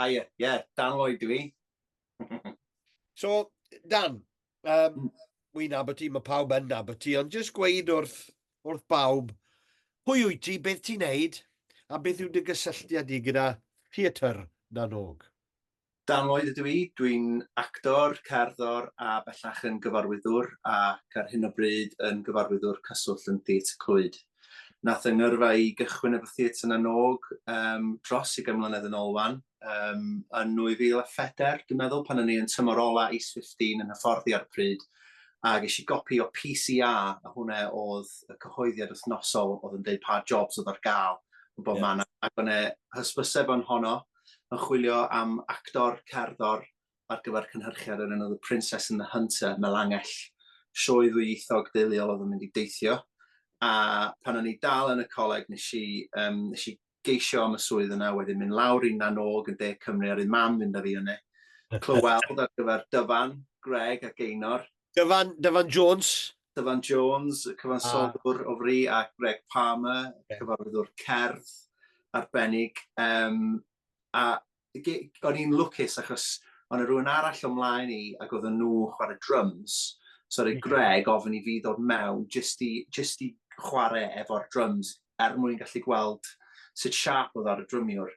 Haia, ie, yeah, Dan Lloyd dwi. so, Dan, um, hmm. wy'n nabod ti, mae pawb yn nabod ti, ond jyst gweud wrth, wrth bawb, pwy wyt ti, beth ti'n neud, a beth yw dy gysylltiad i gyda theatr na nog? Dan Lloyd ydw i, dwi'n actor, cerddor a bellach yn gyfarwyddwr ac ar hyn o bryd yn gyfarwyddwr cyswllt yn Theatr Clwyd. Nath yng ngyrfa i gychwyn efo Theatr na n-Og um, dros i gymlynedd yn ôl wan, um, yn 2004, dwi'n meddwl, pan o'n i yn tymor ola is 15 yn hyfforddi ar pryd, a ges i gopi o PCR, a hwnna oedd y cyhoeddiad wythnosol oedd yn dweud pa jobs oedd ar gael yn bob yeah. man, ac o'n e hysbyseb o'n honno, yn chwilio am actor, cerddor, ar gyfer cynhyrchiad o'r enw The Princess and the Hunter, Melangell, sioe ddwyieithog deuluol oedd yn mynd i deithio. A pan o'n i dal yn y coleg, nes i, um, nes i geisio am y swydd yna, wedyn mynd lawr i Nanog yn De Cymru ar ei mam fynd â fi yna. Clyweld ar gyfer Dyfan, Greg a Geinor. Dyfan, Dyfan Jones. Dyfan Jones, y cyfansoddwr ah. o fri, a Greg Palmer, yeah. cyfarwyddwr cerdd arbennig. Um, a o'n i'n lwcus achos o'n rhywun arall o'n mlaen i ac oedd nhw chwarae drums, so roedd Greg ofyn i fi ddod mewn jyst i, jyst i chwarae efo'r drums er mwyn gallu gweld sut siap oedd ar y drymiwr.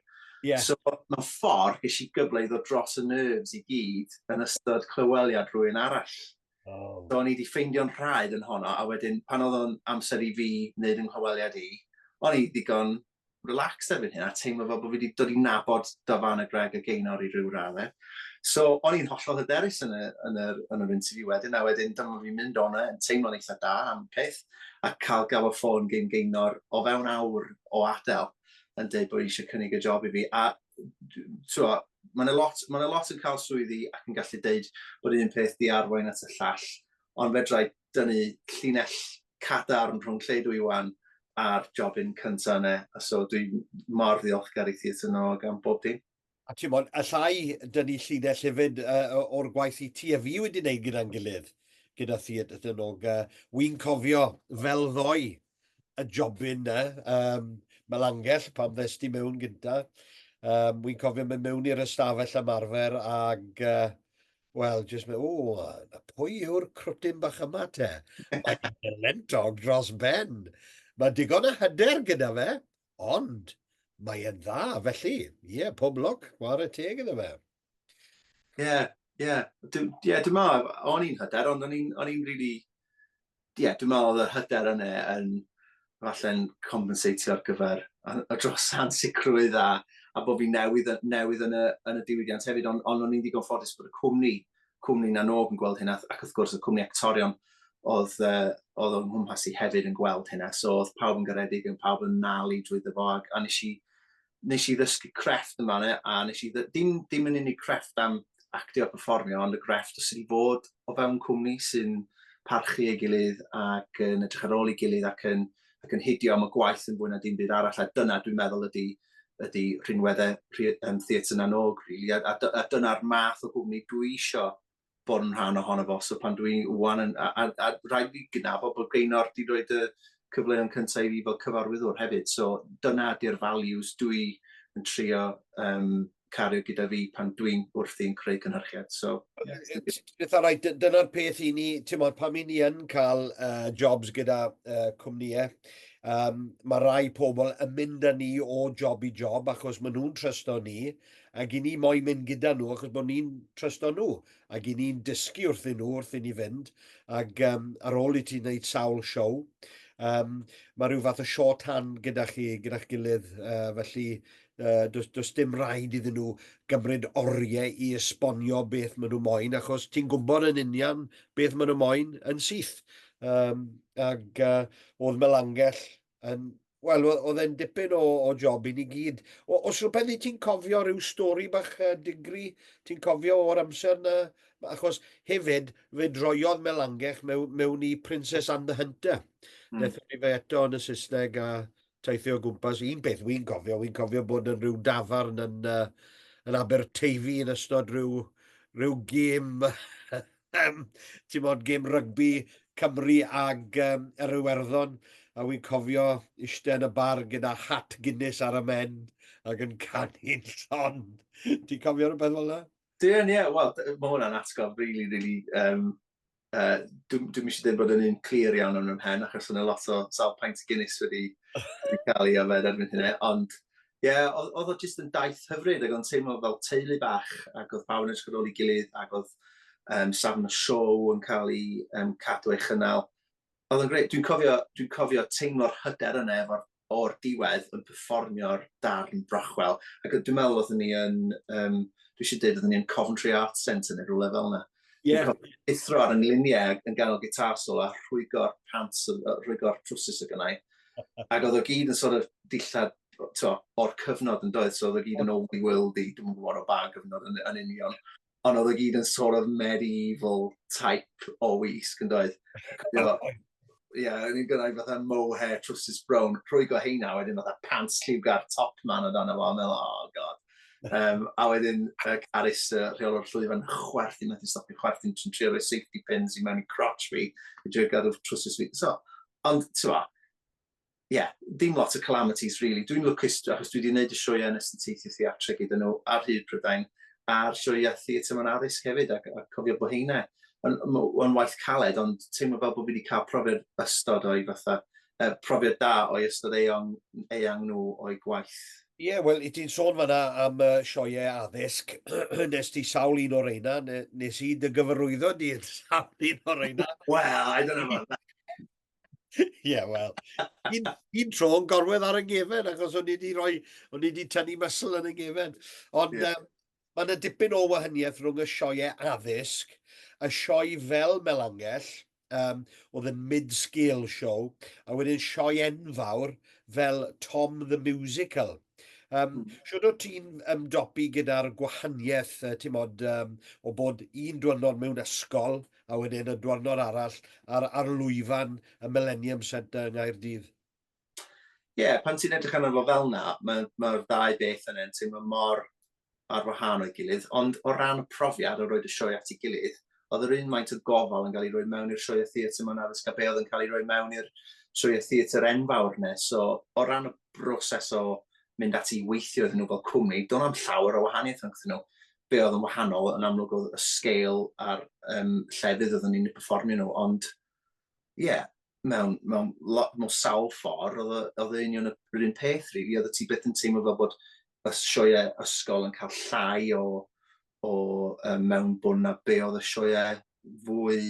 Yeah. So mewn ffordd, ges i gyfle i ddod dros y nerves i gyd yn ystod clyweliad rhywun arall. Oh. So o'n i wedi ffeindio'n rhaid yn honno, a wedyn pan oedd o'n amser i fi wneud yng nghlyweliad i, o'n i ddigon relaxed erbyn hyn a teimlo fel bod fi wedi dod i nabod Dyfan a Greg a Gaynor i ryw raddau. So, o'n i'n hollol hyderus yn, y, yn, yr, yn yr interview wedyn, a wedyn dyma fi'n mynd o'na yn teimlo'n eitha da am peth, a cael gafo ffôn gen Gaynor o fewn awr o adael yn dweud bod eisiau cynnig y job i fi. A twa, mae'n lot, mae lot yn cael swyddi ac yn gallu deud bod un peth di arwain at y llall, ond fedrai dynnu llinell cadarn rhwng Lle Dw i 'Wan a'r jobyn cynta yna, a so dwi mor ddiolchgar i Theatr Nog am bob dim. A t'mod, allai dynnu llinell hefyd uh, o'r gwaith i ti a fi wedi wneud gyda'n gilydd, gyda Theatr Nog. Uh, Wy'n cofio fel ddoe y jobyn na, um, Melangell, pan ddes di mewn gynta. Um, Wy'n cofio mynd mewn i'r ystafell ymarfer ag uh, Wel, jyst mynd, ww, a pwy yw'r crwtyn bach yma te? Mae talentog dros ben. Mae digon o hyder gyda fe, ond mae e'n dda, felly, ie, yeah, pob lwc, chwarae teg iddo fe. Ie, yeah, ie. Yeah. Dim, yeah, dim ond o'n i'n hyder, ond o'n i'n really ie, dwi'n meddwl oedd y hyder yna yn falle'n compenseitio ar gyfer y dros ansicrwydd a, a bod fi newydd, newydd yn, y, yn y diwydiant hefyd, ond on, on i'n ddigon ffodus bod y cwmni, cwmni na nog yn gweld hynna, ac wrth gwrs y cwmni actorion oedd, uh, oedd o'n nghwmpas i hefyd yn gweld hynna, so oedd pawb yn garedig yn pawb yn nalu drwy ddyfo, ac a nes i nes i ddysgu crefft yn fan'na a nes i ddy- dim dim yn unig crefft am actio a perfformio ond y grefft o sut i fod o fewn cwmni sy'n parchu ei gilydd ac yn edrych ar ôl ei gilydd ac yn ac yn hidio am y gwaith yn fwy na dim byd arall a dyna dwi'n meddwl ydy ydy rhinweddau rhi- yym theatr 'na 'n og rili a a dy- a dyna'r math o gwmni dwi isio bod yn rhan ohono fo. So pan dwi wan yn... A, a, a rhaid fi gynafod bod Geinor di roed y cyfleon cyntaf i fi fel cyfarwyddwr hefyd. So dyna ydy'r values dwi yn trio um, cario gyda fi pan dwi'n wrthi'n creu cynhyrchiad. So, yeah. dyna'r peth i ni, ti'n modd, pan i ni yn cael uh, jobs gyda uh, cwmnïau, um, mae rai pobl yn mynd â ni o job i job achos maen nhw'n trysto ni, Ac i ni moyn mynd gyda nhw achos bod ni'n trysto nhw. Ac i ni'n dysgu wrthyn nhw wrth i ni fynd. Ac um, ar ôl i ti wneud sawl siow, um, mae rhyw fath o short hand gyda chi, gyda'ch gilydd. Uh, felly, uh, does, does dim rhaid iddyn nhw gymryd oriau i esbonio beth maen nhw moyn, achos ti'n gwybod yn union beth maen nhw moyn yn syth. Um, ac uh, oedd Melangell yn Wel, oedd e'n dipyn o, o job i ni gyd. O, os rhywbeth i ti'n cofio rhyw stori bach uh, digri, ti'n cofio o'r amser na? Achos hefyd, fe droiodd Melangech mewn, mewn i Princess and the Hunter. Mm. Nethon ni fe eto yn y Saesneg a teithio o gwmpas. Un beth wy'n cofio, wy'n cofio bod yn rhyw dafarn yn, uh, yn Aberteifi yn ystod rhyw, rhyw gêm yym, timod, gêm rygbi Cymru ag um, yr Iwerddon, a wy'n cofio eistedd yn y bar gyda hat Guinness ar y men ac yn canu'n llon. Ti'n cofio rhywbeth fel yna? Dyn, ie, wel, mae hwnna'n atgof really, really... Um, uh, dwi'n dwi eisiau dweud bod yn un clir iawn o'n ymhen, achos yna lot o sawl paint Guinness wedi, wedi cael ei yfed erbyn hynny, ond Ie, yeah, oedd o jyst yn daith hyfryd ac o'n teimlo fel teulu bach ac oedd pawb yn edrych ar ôl i gilydd ac oedd um, safn y siow yn cael ei um, cadw ei chynnal. Oedd yn greu, dwi'n cofio, dwi cofio teimlo'r hyder yna efo'r o'r diwedd yn performio'r darn brochwel. Ac dwi'n meddwl oedd ni yn, um, dwi eisiau dweud, oedd ni yn Coventry Arts Centre neu rhywle fel yna. Yeah. Ithro ar yngluniau yn ganol gitar solo a rhwygo'r pants, rhwygo'r trwsus y gynnau. Ac oedd o gyd yn sort of dillad o'r cyfnod yn doedd, so oedd o gyd yn oldie worldy, dwi'n gwybod o ba gyfnod yn, yn union. Ond oedd o gyd yn sort of medieval type o wisg yn doedd. Ie, yeah, yn gyda'i fatha mohair, trwsus brown, rhwygo heina, wedyn fatha pants lliwgar top man o dan y fo, meddwl, oh god. Um, a wedyn uh, Caris uh, rheol o'r llwyf yn chwerthu, mae'n stopio chwerthu, yn trio rhoi safety pins i mewn i crotch fi, i drio gadw'r trwsus fi. So, Ond, t'mo', ie, dim lot o calamities rili. Dwi'n lwcus achos dwi wedi gwneud y sioeau yn astudiaethu theatreg iddyn nhw ar hyd Prydain a'r sioeau theatr mewn addysg hefyd ac, ac cofio bod heina yn, yn waith caled ond teimlo fel bod fi wedi cael profiad ystod o'i fatha uh, profiad da o'i ystod eang, eang nhw o'i gwaith Ie, wel, i ti'n sôn fanna am y sioiau addysg, nes ti sawl un o'r reina, nes i dy gyfarwyddo di yn sawl un o'r reina. Wel, I don't know about that. Ie, wel. Un, un tro yn gorwedd ar y gefen, achos o'n i wedi rhoi, o'n i wedi tynnu mysl yn y gefen. Ond yeah. um, mae yna dipyn o wahaniaeth rhwng y sioiau addysg, y sioi fel melangell, um, oedd yn mid-scale show, a wedyn sioe enfawr fel Tom the Musical. Um, mm. Siwr o ti'n ymdopi gyda'r gwahaniaeth, uh, ti'n modd, um, o bod un dwrnod mewn ysgol, a wedyn y dwrnod arall ar, ar lwyfan y Millennium Centre yng Nghaerdydd? Ie, yeah, pan ti'n edrych arno fo fel na, mae'r ma ddau beth yna yn teimlo mor ar wahan o'i gilydd, ond o ran y profiad o roed y sioe at ei gilydd, oedd yr un maint o gofal yn cael ei roi mewn i'r sioe a theatr mewn addysg a be oedd yn cael ei roi mewn i'r sioe a theatr enfawr nes. So, o ran y broses o mynd at i weithio iddyn nhw fel cwmni, do'n am llawer o wahaniaeth rhwng nhw. Be oedd yn wahanol yn amlwg oedd y sgêl a'r um, llefydd oeddwn ni'n performio nhw, ond ie, mewn, mewn lot mewn sawl ffordd, oedd oedd e union yr un peth rili, really. oedd y ti beth yn teimlo fel bod y sioeau ysgol yn cael llai o, o um, mewn bwn na be oedd y sioeau fwy,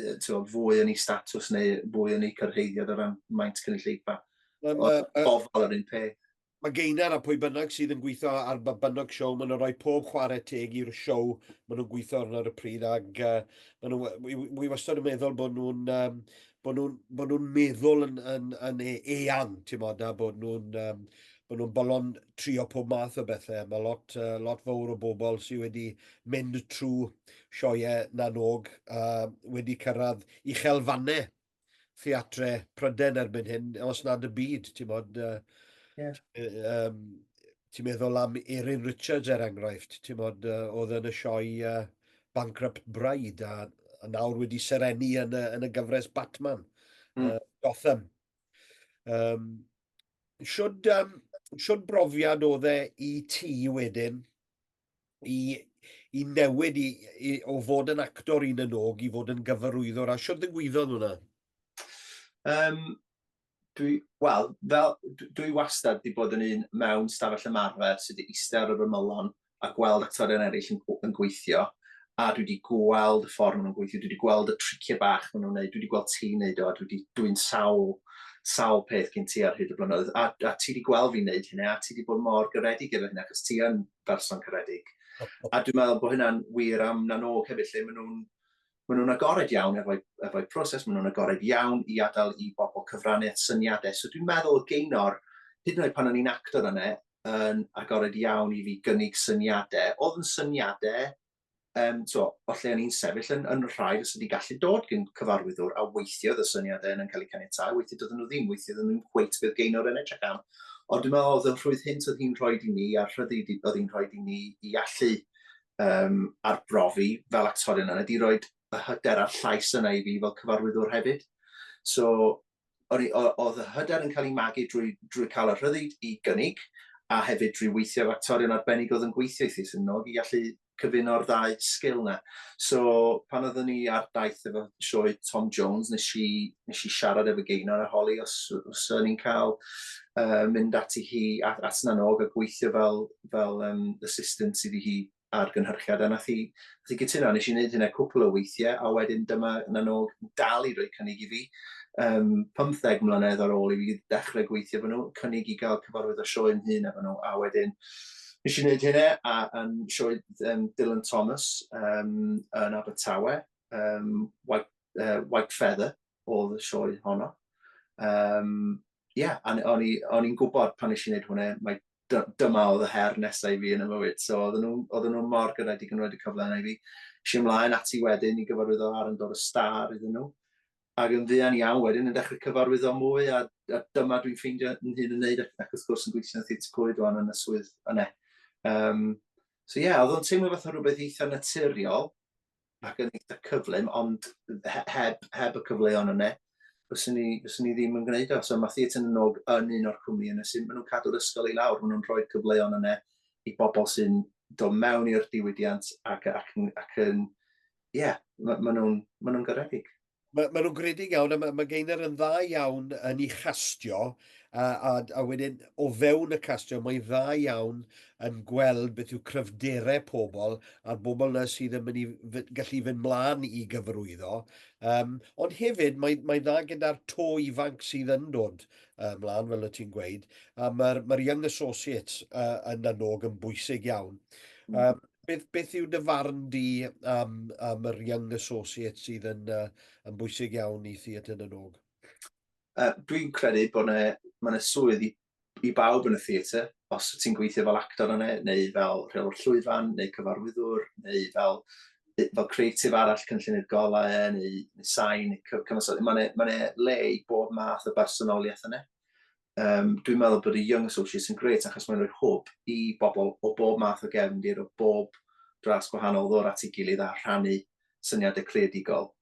uh, twa, fwy yn ei statws neu fwy yn ei cyrheiddiad o ran maint cynulleidfa. Oedd uh, uh, gofal yr un peth. Mae Geinar a pwy bynnag sydd yn gweithio ar ba bynnag siow, maen nhw'n rhoi pob chwarae teg i'r siow maen nhw'n gweithio arno ar y pryd, ac uh, maen nhw, wi, wi wastad yn meddwl bod nhw'n um, bod nhw'n nhw, nhw meddwl yn, yn, yn e, eang, ti'n modd, a bod nhw'n um, bod nhw'n bolon trio pob math o bethau. Mae lot, uh, lot fawr o bobl sydd wedi mynd trwy sioiau na'n og a wedi cyrraedd uchelfannau theatre pryden erbyn hyn, os nad y byd, ti'n bod. Uh, yeah. um, ti'n meddwl am Erin Richards er enghraifft, ti'n bod, uh, oedd yn y sioe uh, Bankrupt Bride, a, a nawr wedi serenu yn y, yn y gyfres Batman, mm. uh, Gotham. Um, Siwyd, um, siwyd brofiad oedd e i ti wedyn, i, i newid, i, i, o fod yn actor un yn og i fod yn gyfarwyddwr, a siwr ddigwyddodd hwnna? Um, dwi, wel, fel, dwi wastad wedi bod yn un mewn stafell ymarfer sydd wedi eistedd ar yr ymylon a gweld actorion eraill yn, yn gweithio. a dwi wedi gweld y ffordd maen nhw'n gweithio, dwi wedi gweld y triciau bach maen nhw'n gwneud, dwi wedi gweld ti'n gwneud o, a dwi wedi dwyn sawl, sawl peth gen ti ar hyd y blynyddoedd, a, a ti wedi gweld fi'n gwneud hynny, a ti wedi bod mor garedig efo hynny, achos ti yn berson caredig. A dwi'n meddwl bod hynna'n wir am Nanog hefyd, lle maen nhw'n maen nhw'n agored iawn efo'i efo proses, maen nhw'n agored iawn i adael i bobl cyfrannu at syniadau. So dwi'n meddwl y geinor, hyd yn oed pan o'n i'n actor yna, yn agored iawn i fi gynnig syniadau. Oedd yn syniadau, um, to, o lle o'n i'n sefyll yn, yn rhai fes wedi gallu dod gyn cyfarwyddwr a weithio oedd y syniadau yn yn cael eu caniatau, weithio doedden nhw ddim, weithio doedden nhw'n cweit beth gein o'r ennill ac am. Ond dwi'n meddwl oedd y rhwydd hyn oedd hi'n rhoi i ni a'r rhyddid oedd hi'n rhoi i ni i allu um, arbrofi fel actorion yna, di roi y hyder a'r llais yna i fi fel cyfarwyddwr hefyd. So, oedd y hyder yn cael ei magu drwy, drwy cael y rhyddid i gynnig, a hefyd drwy weithio efo actorion arbennig oedd yn gweithio i Thys yn Nog i gallu cyfuno'r ddau sgil yna. So, pan oeddwn ni ar daith efo sioe Tom Jones, nes i, nes i siarad efo Geinar a holi os, os o'n i'n cael uh, mynd ati hi at, at Nanog a gweithio fel, fel um, assistant iddi hi a'r gynhyrchiad, a nath hi nath hi gytuno, a nes i neud hynna cwpwl o weithie, a wedyn dyma na nôl dal i roi cynnig i fi um, pymtheg mlynedd ar ôl i fi ddechrau gweithio efo nhw, cynnig i gael cyfarwydd o sioe yn hun efo nhw, a wedyn nes i wneud hynna a, yn sioe um, Dylan Thomas um, yn Abertawe, um, White, uh, White Feather, oedd y sioe honno. Um, yeah, o'n i'n gwybod pan eisiau gwneud hwnna, mae dyma oedd y her nesau i fi yn y mywyd. So oedden nhw, oedden nhw mor garedig yn rhoi y cyfle yna i fi. Si ymlaen ati wedyn i gyfarwyddo ar yn dod y star iddyn nhw. Ac yn ddian iawn wedyn yn dechrau cyfarwyddo mwy a, a dyma dwi'n ffeindio yn hyn yn wneud ac, ac wrth gwrs yn gweithio yn Theatr Clwyd o'n yn y swydd yna. Um, so ie, yeah, oedd o'n teimlo fath o rhywbeth eitha naturiol ac yn eitha cyflym, ond heb, heb y cyfleon yna, fyswn ni, fyswn ni ddim yn gwneud o. So mae Theatr yn Nog yn un o'r cwmni yna sy'n maen nhw'n cadw'r ysgol i lawr, maen nhw'n rhoi cyfleon yna i bobl sy'n dod mewn i'r diwydiant ac, ac, ac, ac yn, ie, yeah, maen nhw'n ma nhw gyrraedig. Mae, mae nhw'n gredig iawn, a mae, mae Gainer yn dda iawn yn ei chastio, a, a, a wedyn o fewn y castio, mae'n dda iawn yn gweld beth yw cryfderau pobl a'r bobl yna sydd yn mynd i gallu fynd mlaen i gyfarwyddo. Um, ond hefyd, mae'n mae dda gyda'r to ifanc sydd yn dod uh, mlaen, fel y ti'n gweud, a mae'r mae Young Associates uh, yn anog yn bwysig iawn. Um, beth, beth yw dy farn di am, am yr Young Associate sydd yn, uh, yn bwysig iawn i Theatr yn y Nog? Uh, Dwi'n credu bod yna ma swydd i, i bawb yn y theatr, os ti'n gweithio fel actor yna, neu fel rheolwr llwyfan, neu cyfarwyddwr, neu fel fel creatif arall, cynllunydd golau, neu, neu sain, neu cyfansoddi. Mae'n ma le i bob math o bersonoliaeth yna. Um, dwi'n meddwl bod y Young Associates yn gret achos mae'n rhoi hwb i bobl o bob math o gefndir, o bob dras gwahanol ddod at ei gilydd a rhannu syniadau creadigol.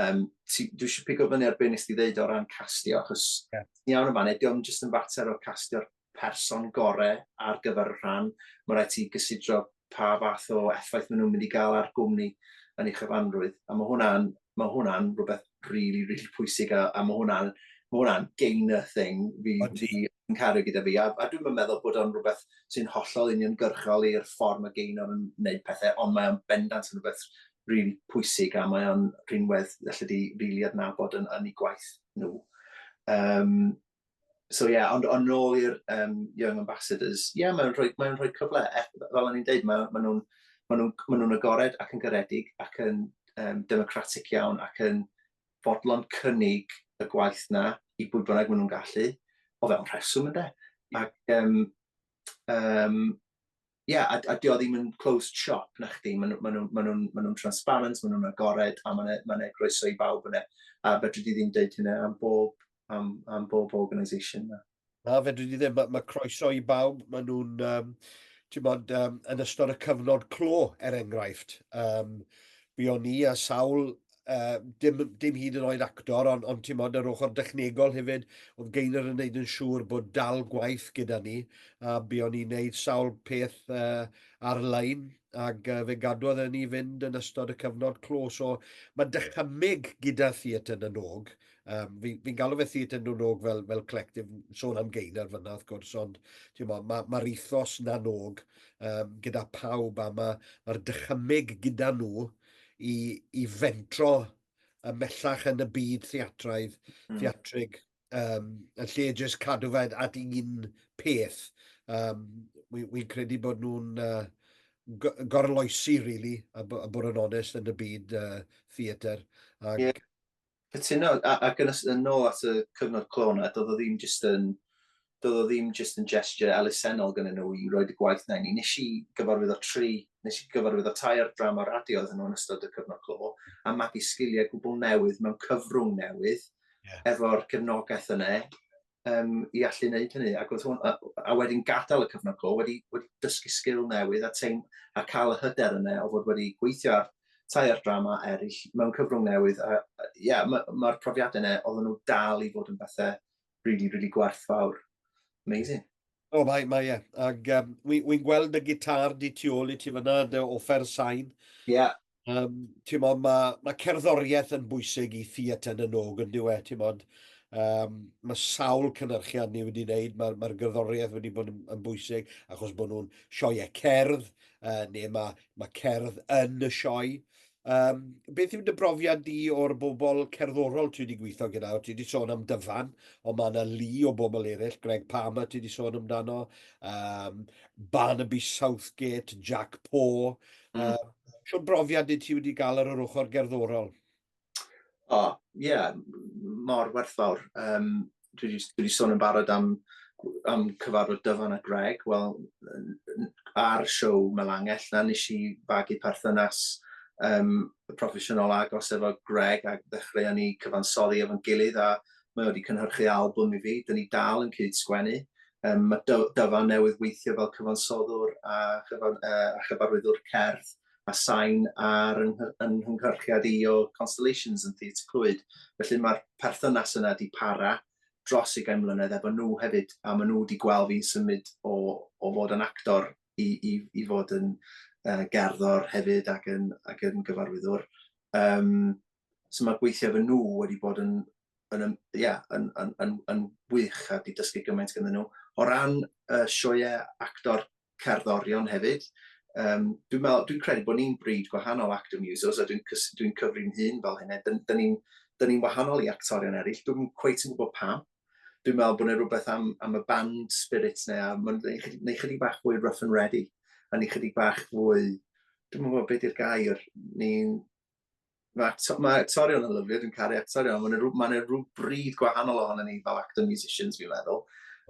Um, ti, dwi eisiau pigo fyny ar beth nes ti ddeud o ran castio, achos yeah. iawn yma, neu diolch jyst yn fater o castio'r person gore ar gyfer y rhan. Mae rhaid ti gysidro pa fath o effaith maen nhw'n mynd i gael ar gwmni yn ei chyfanrwydd. A mae hwnna'n ma hwnna rhywbeth really, really pwysig a, a mae hwnna'n ma hwnna gainer thing fi, fi yn cario gyda fi. A, a dwi'n meddwl bod o'n rhywbeth sy'n hollol uniongyrchol i'r ffordd mae gainer yn gwneud pethau, ond mae o'n bendant yn rhywbeth really pwysig a mae o'n rhinwedd felly di rili really adnabod yn, yn ei gwaith nhw. Um, so ie, yeah, ond on nôl i'r um, Young Ambassadors, ie, yeah, mae'n rhoi, mae rhoi cyfle, e, fel o'n i'n dweud, mae, mae nhw'n ma nhw, ma nhw agored ac yn garedig ac yn um, democratic iawn ac yn fodlon cynnig y gwaith na i bwy bynnag maen nhw'n gallu, o fewn rheswm ynddo. Ac um, um, ie, a, a dio ddim yn closed shop, na chdi, maen nhw'n ma nhw, ma nhw, ma nhw transparent, maen nhw'n agored, a maen nhw'n ma groeso i bawb yna. A fedri di ddim dweud hynna am bob, am, am bob organisation yna. Na, fedri di ddim, mae ma croeso i bawb, maen nhw'n, um, ti'n bod, um, yn ystod y cyfnod clo, er enghraifft, um, buon ni a sawl uh, dim, dim hyd yn oed actor, ond, on, ti'n modd yr ochr dechnegol hefyd, oedd Geiner yn neud yn siŵr bod dal gwaith gyda ni, a bu o'n i'n neud sawl peth uh, ar-lein, ac uh, fe gadwodd yn ni fynd yn ystod y cyfnod clo. So mae dychymyg gyda theatr yn y nog, um, fi'n fi galw fe theatr yn y nog fel, fel collectif, sôn am Geiner fyna wrth gwrs, ond mae'r ma, ma ethos na nog um, gyda pawb, a mae'r ma dychymyg gyda nhw, uh, i, i fentro ymellach yn y byd theatraidd, mm. theatrig, um, yn lle jyst cadw fe at un peth. Um, Wy'n wy credu bod nhw'n uh, gorloesi, really, a, a bod yn onest yn y byd uh, theatr. Ac, yeah. Cytuno, a, ac yn, yn ôl at y cyfnod clo yna, doedd o ddim jyst yn, doedd o ddim jyst yn gesture elusennol gyda nhw i roed y gwaith na i ni. Nes i gyfarwyddo tri, nes i gyfarwyddo tair drama radio oedd nhw'n ystod y cyfnod clo, a magu sgiliau gwbl newydd mewn cyfrwng newydd, yeah. efo'r gefnogaeth yna, um, i allu wneud hynny. Ac wrth hwn, a, a wedyn gadael y cyfnod clo, wedi, wedi dysgu sgil newydd a, teim, a cael y hyder yna o fod wedi gweithio ar tai ar drama eraill mewn cyfrwng newydd. A, a ia, mae'r ma, ma profiadau yna oedden nhw dal i fod yn bethau really, really gwerthfawr. Amazing. O, mae, mae e. Ac um, wy'n wy gweld y gitar di tu ôl i ti fyna, dy offer sain. Ie. Yeah. Um, ti'n modd, mae, mae cerddoriaeth yn bwysig i theatr yn y nog yn diwe, ti'n modd. Um, mae sawl cynnyrchiad ni wedi wneud, mae'r mae gerddoriaeth wedi bod yn, yn bwysig, achos bod nhw'n sioiau cerdd, uh, neu mae, mae cerdd yn y sioe. Um, beth yw dy brofiad di o'r bobl cerddorol ti wedi gweithio gyda? Ti wedi sôn am dyfan, ond mae yna lu o bobl eraill, Greg Palmer ti wedi sôn amdano, um, Barnaby Southgate, Jack Poe. Mm. Uh, Siwr brofiad i ti wedi gael ar yr ochr gerddorol? O, oh, ie, yeah, mor werthfawr. Um, dwi wedi, dwi wedi sôn yn barod am, am cyfarfod Dyfan a Greg, wel, ar siow Melangell na, nes i fagu perthynas um, proffesiynol agos efo Greg a ddechrau ni cyfansoddi efo'n gilydd a mae wedi cynhyrchu album i fi, dyn ni dal yn cyd sgwennu. Um, mae Dyfan newydd weithio fel cyfansoddwr a, chyfan, uh, a chyfarwyddwr cerdd a sain ar yn, yn nghynhyrchiad i o Constellations yn Theatr Clwyd. Felly mae'r perthynas yna wedi para dros i gael mlynedd efo nhw hefyd, a maen nhw wedi gweld fi'n symud o, o fod yn actor i, i, i fod yn uh, gerddor hefyd ac yn, ac yn gyfarwyddwr. Um, so mae gweithio efo nhw wedi bod yn, yn, yn, yeah, yn, yn, yn, yn wych a wedi dysgu gymaint gyda nhw. O ran uh, sioe actor cerddorion hefyd, um, dwi'n dwi, dwi credu bod ni'n bryd gwahanol actor musos a dwi'n dwi cyfri'n hun fel hynny. Dyn, dyn ni'n ni wahanol i actorion eraill, dwi'n cweith yn gwybod pam. Dwi'n meddwl bod yna rhywbeth am, am y band spirit neu, a mae'n neu chydig bach fwy rough and ready, a ni chydig bach fwy, dwi'n meddwl beth yw'r gair, ni'n Mae, to, mae actorion yn lyflu, dwi'n caru actorion. Mae'n rhyw, mae rhyw bryd gwahanol ohono ni fel actor musicians, fi'n meddwl.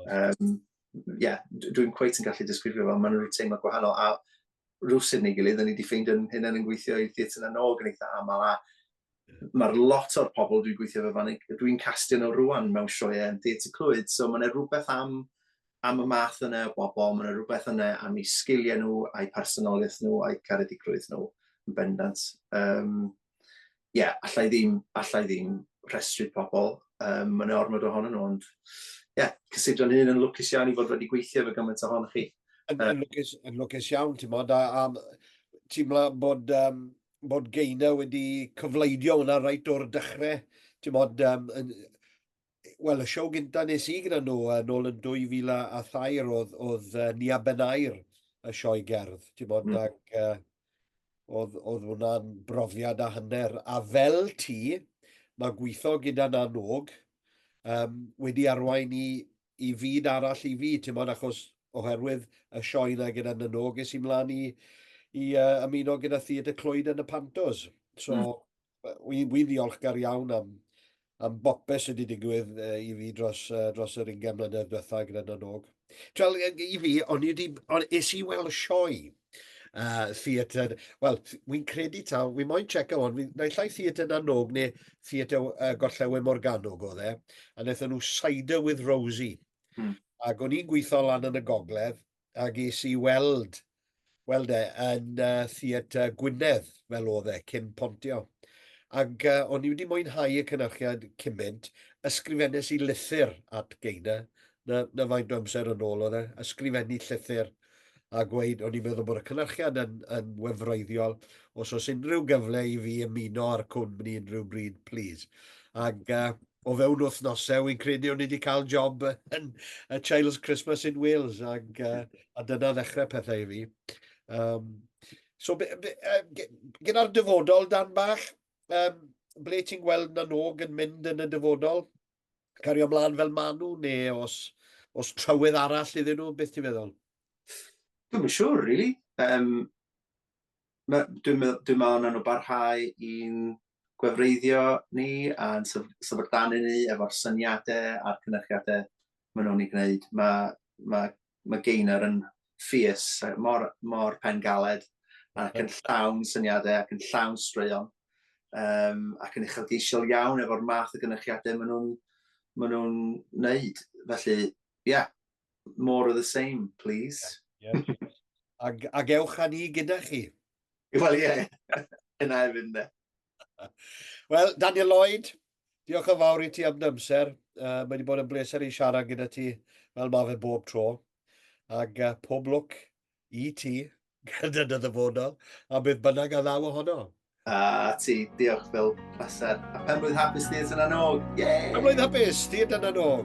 Um, yeah, dwi'n cweith yn gallu disgrifio fel, mae'n rhyw teimlo gwahanol. A rhywsyd neu gilydd, ni wedi ffeindio hyn yn gweithio i Theatr yn Nog yn eitha aml. A mae'r lot o'r pobl dwi'n gweithio fe fan, dwi'n castio nhw rwan mewn sioe yn Theatr Clwyd. So mae'n rhywbeth am am y math yna o bobl, mae yna rhywbeth yna am eu sgiliau nhw, a'u personoliaeth nhw, a'u caredigrwydd nhw yn bendant. Um, ie, yeah, allai ddim, allai ddim rhestru pobl, um, mae yna ormod ohonyn nhw, ond ie, yeah, cysidro'n hyn yn lwcus iawn i fod wedi gweithio fe gymaint ohono chi. Yn, yn, lwcus, yn lwcus iawn, ti'n modd, a, a teimlo bod, um, bod geina wedi cyfleidio hwnna reit o'r dechrau, ti'n modd, um, yn, wel, y siow gyntaf nes i gyda nhw, yn ôl yn 2003, oedd, oedd uh, Nia Benair y sioe gerdd, ti'n bod, mm. ac uh, oedd, oedd hwnna'n brofiad a hanner. A fel ti, mae gweithio gyda na nog um, wedi arwain i, i fyd arall i fi, ti'n bod, achos oherwydd y sioe na gyda na nog, ys i mlaen i, i uh, ymuno gyda Theatr Clwyd yn y Pantos. So, mm. Wy'n ddiolchgar iawn am, am bopeth sydd wedi digwydd uh, i fi dros, uh, dros yr ingen mlynedd diwetha gyda Nanog. Wel, i fi, o'n i wedi, on, es i weld sioe uh, theatr, wel, wy'n credu ta, wy'n moyn checo hwn, naill ai theatr Nanog neu theatr uh, Gorllewin Morganog oedd e, a wnaethon nhw Cider with Rosie. Hmm. Ac o'n i'n gweithio lan yn y gogledd, a ges i weld, weld e yn uh, Theatr Gwynedd fel oedd e cyn pontio. Ac uh, o'n i wedi mwynhau y cynyrchiad cymaint, ysgrifennes i lythyr at Geina, na, na faint o amser yn ôl oedd e, ysgrifennu llythyr a gweud o'n i'n meddwl bod y cynyrchiad yn, yn wefroeddiol, os oes unrhyw gyfle i fi ymuno â'r cwmni unrhyw bryd, please. Ac uh, o fewn wythnosau, wy'n credu o'n i wedi cael job yn y Child's Christmas in Wales, ag, uh, a dyna ddechrau pethau i fi. Um, so, be, be, uh, gyda'r dyfodol, dan bach, um, ble ti'n gweld na nog yn mynd yn y dyfodol? Cario ymlaen fel manw, neu os, os trywydd arall iddyn nhw, beth ti'n feddwl? Dwi'n siŵr, really. Um, Mae, dwi'n meddwl, dwi'n meddwl na nhw barhau i'n gwefreiddio ni a'n syf- syfrdanu ni efo'r syniadau a'r cynyrchiadau maen nhw'n ei gwneud. Mae, mae, mae Gaynor yn ffius, a mor, mor pen galed ac yn llawn syniadau ac yn llawn straeon um, ac yn uchelgeisiol iawn efo'r math o gynyrchiadau maen nhw'n maen nhw'n wneud. Felly, ie, yeah, more of the same, please. Yeah, yeah. Ag, ag ewch â ni gyda chi. Wel, ie, yeah. yna i fynd e. Wel, Daniel Lloyd, diolch yn fawr i ti am dymser. Uh, mae wedi bod yn bleser i siarad gyda ti fel mae fe bob tro. Ac uh, pob lwc i ti, gyda dy ddyfodol, a beth bynnag a ddaw ohono. A ti, diolch fel pleser. A pen blwydd hapus ti yna nog. Yay! Pen blwydd hapus ti yna nog.